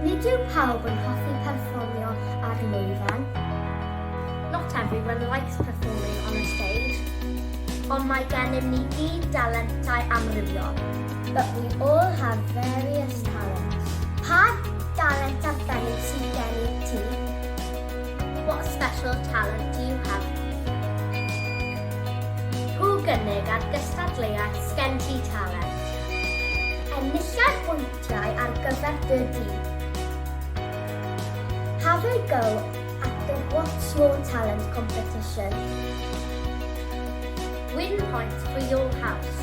Nid yw pawb yn hoffi perfformio ar lwyfan. Not everyone likes performing on a stage. Ond mae gennym ni gyd dalentau amrywiol. But we all have various talents. Pa dalent arbennig sydd gennyt ti? What special talent do you have? I'w gynnig ar gystadleuaeth Sgen Ti Talent. Enilliad pwyntiau ar gyfer dy dîm. Have a go at the What's Your Talent competition. Win points for your house.